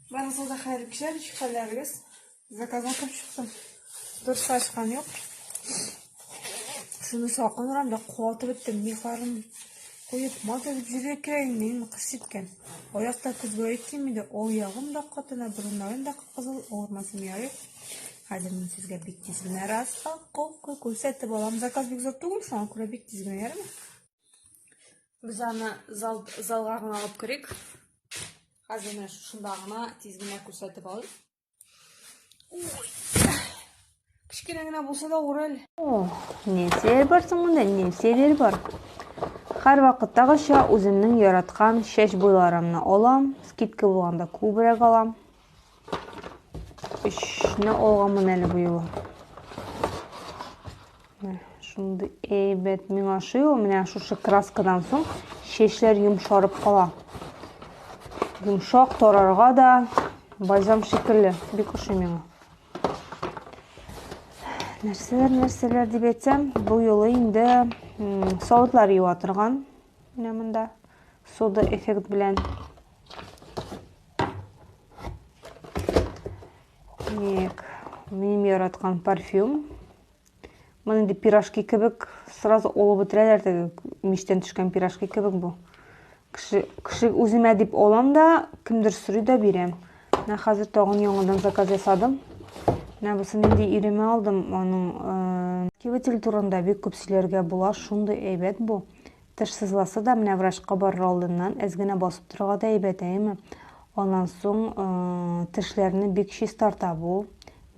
Барыгызга да хәерле кичә, ничек хәлләрегез? Заказ атып чыктым. Дөрес ачкан юк. Шуны сакынрам да куатып беттем. Михларын куеп, мат итеп җиргә керәйем, мин кыш җиткән. Аякта көзгә әйтсем иде, ул ягым да катына, борыннарым да кызыл, авырмасам ярый. Хәзер мин сезгә бик тиз генә распаковка күрсәтеп алам. Заказ бик зур түгел, шуңа күрә бик тиз генә ярыймы? Без аны зал, залга гына алып керик. Хәзер менә шунда гына тиз генә күрсәтеп алыйк. Кечкенә генә булса да урел. О, нәрсәләр бар соң монда? Нәрсәләр бар? Һәр вакыттагыча үземнең яраткан чәч буйларымны алам. Скидка булганда күбрәк алам. Эшне алганмын әле бу юлы. Шундый әйбәт миңа ошый ул. Менә шушы краскадан соң чәчләр йомшарып кала. Йомшак тарарга да бальзам шикелле. Бик ошый миңа. Нәрсәләр, нәрсәләр дип әйтсәм, бу юлы инде савытлар юа торган Менә монда сода эффект белән. Так, минем яраткан парфюм. Моны инде пирожки кебек сразу олып бетерәләр теге мичтән төшкән пирожки кебек бу. Кеше, кеше үземә дип алам да, кемдер сорый да бирәм. Менә хәзер тагын яңадан заказ ясадым. Менә бусын инде иремә алдым, аның э, кивитель турында бик күп сөйләргә була, шундый әйбәт бу. Тышсызласа да, менә врачка барыр алдыннан әз генә басып торырга да әйбәт, әйеме? Аннан соң э, тешләрне бик чистарта бу.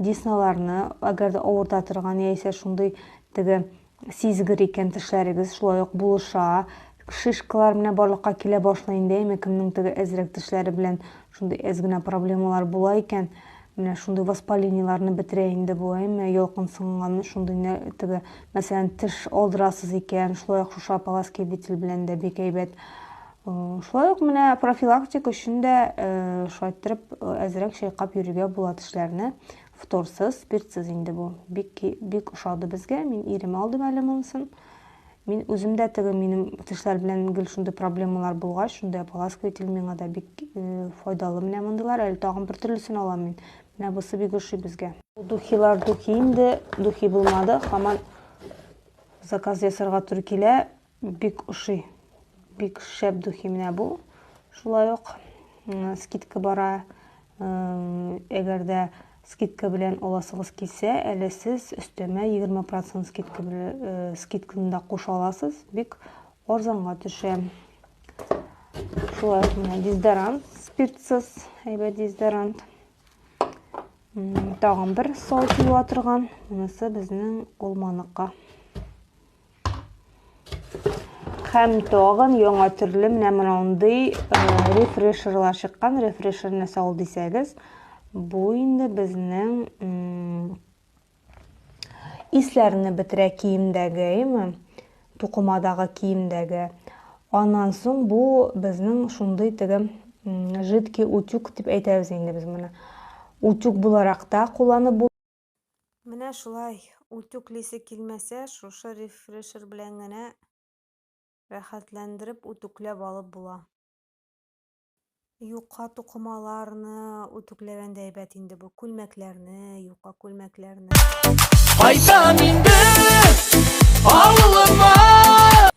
Десналарны, әгәр дә авырта торган яисә шундый теге сизгер икән тешләрегез, шулай ук булыша. Шишкалар менә барлыкка килә башлый инде, әйеме? Кемнең теге әзрәк тешләре белән шундый әз генә проблемалар була икән, Менә шундый воспалениеларны бетерә инде бу, әйме, ялкынсынган шундый нә- теге, мәсәлән, теш алдырасыз икән, шулай ук шушы ополаски бетель белән дә бик әйбәт. Э, Шулай ук менә профилактик өчен дә э, шайтырып э, әзрәк чайкап йөрергә була тешләрне. Фторсыз, спиртсыз инде бу. Бик ки- бик ошады безгә. Мин ирем алдым әле монысын. Мин үзем дә теге минем тешләр белән гел шундый проблемалар булгач, шундый ополаскиватель миңа да бик файдалы менә мондыйлар. Әле тагын бер төрлесен алам мин. Менә бусы бик ошый безгә. Духилар духи инде, духи булмады. Хаман заказ ясарга туры килә. Бик ошый. Бик шәп духи менә бу. Шулай ук скидка бара. Әгәр дә Скидка белән аласыгыз килсә, әле сез өстәмә егерме процент скидка белән скидканы да куша аласыз, бик арзанга төшә. Шулай ук менә дезодорант, спиртсыз, әйбәт дезодорант. Тагын бер сау тыела торган, монысы безнең алманыкка. Хәм тагын яңа төрле менә мондый э, рефрешерлар чыккан. Рефрешерны сал дисәгез, бу инде безнең исләрне бетерә киемдәге, әйме? Тукымадагы киемдәге. Аннан соң бу безнең шундый теге жидкий утюг дип әйтәбез инде без моны. Утюг буларак та кулланып Менә шулай үтүклисе килмәсә, шушы рефрешер белән генә рәхәтләндереп үтүкләп алып була. Юка тукымаларны үтүкләгән дә әйбәт инде бу, күлмәкләрне, юка күлмәкләрне. Кайтам инде авылыма.